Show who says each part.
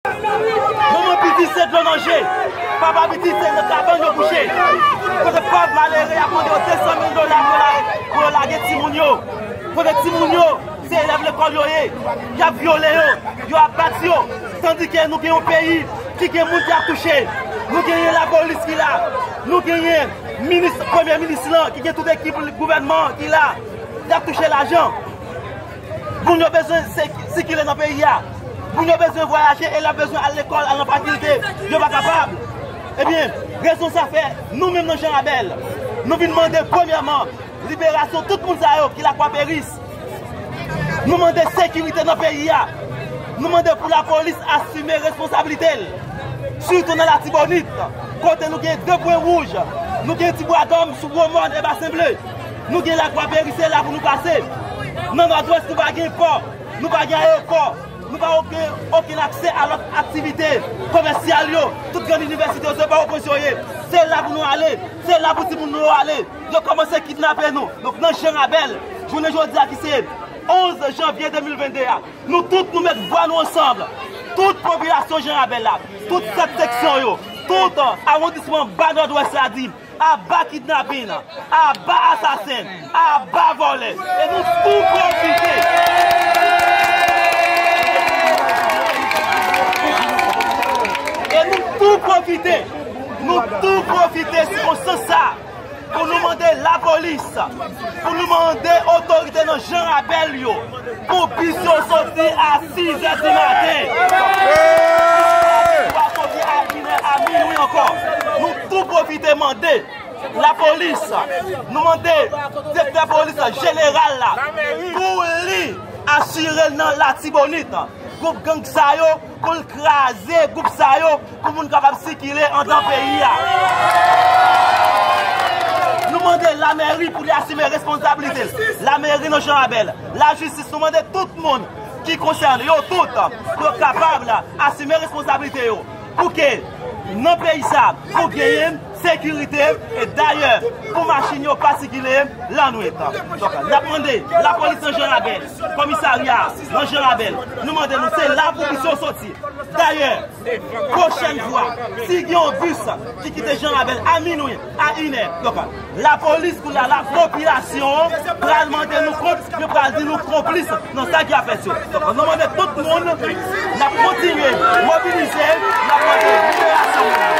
Speaker 1: Manman piti se dlo nan je, papa piti se nan kabann yo kouche. Kote pòv malere y ap mande yo 200 mil dola pou yo lage timoun yo. Kote timoun yo se elèv lekòl yo ye, y ap vyole yo, yo ap bat yo. Tandike nou gen yon peyi ki gen moun ki ap touche. Nou genyen lapolis ki la, nou genyen minis, premye minis lan ki gen tout ekip gouvènman an ki la, y ap touche lajan. Moun yo bezwen sikile nan peyi a. Moun yo bezwen vwayaje, elèv bezwen al lekòl, al nan fakilte. Yo pa kapab. Ebyen, rezon sa fè, nou menm nan Jan Rabèl, nou vin mande premyèman, liberasyon tout moun sa yo ki lakwa peris. Nou mande sekirite nan peyi a. Nou mande pou lapolis asime responsablite l. Sitou nan Latibonit, kote nou gen 2 pwen wouj. Nou gen Tibwagòm sou Gwomòn e Basen Ble. Nou gen Lakwa Peri se la pou nou pase. Nan Nòdwès nou pa gen pò, nou pa gen ayewopò, nou pa gen okenn aksè a lòt aktivite komèsyal yo. Tout grann inivèsite yo se pa opozisyon yo ye. Se la pou nou ale, se la pou timoun nou yo ale. Yo kòmanse kidnape nou. Donk nan Jan Rabèl, jounen jodi a ki se 11 janvye 2022 a, nou tout nou met vwa nou ansanm, tout popilasyon Jan Rabèl la, tout 7 seksyon yo, tout awondisman ba Nòdwès la di, Aba kidnapin, aba asasen, aba vòlè e nou tou pwofite nou tou pwofite sikonstans sa pou nou mande lapolis pou nou mande otorite nan jan rabèl yo pou bis yo soti a 6 è di maten pou bis yo soti a 1 è a min wi ankò nou Nou pwofite mande lapolis, nou mande direktè polis la, jeneral la, pou li asire l nan Latibonit, gwoup gang sa yo, pou l kraze gwoup sa yo, pou moun kapab sikile andan peyi a. Nou mande lamèri pou li asime responsabilite l, lamèri nan Jan Rabèl, lajistis, nou mande tout moun ki konsène yo tout, pou yo kapab asime responsabilite yo. Pou ke nan peyi sa pou genyen sekirite e dayè pou machin yo pa sikile lanwit. Donk n ap mande lapolis nan Jan Rabèl, komisarya nan Jan Rabèl, nou mande nou se la pou bus yo soti. Dayè, pwochèn fwa, si gen yon bus ki kite Jan Rabèl a minwi, A inè, yo pa. Lapolis kounye a, lapopilasyon an pral mande nou kont, yo pral di nou konplis nan sa ki ap fèt yo. Donk nou mande tout moun, n ap kontinye mobilize, n ap mande liberasyon moun yo.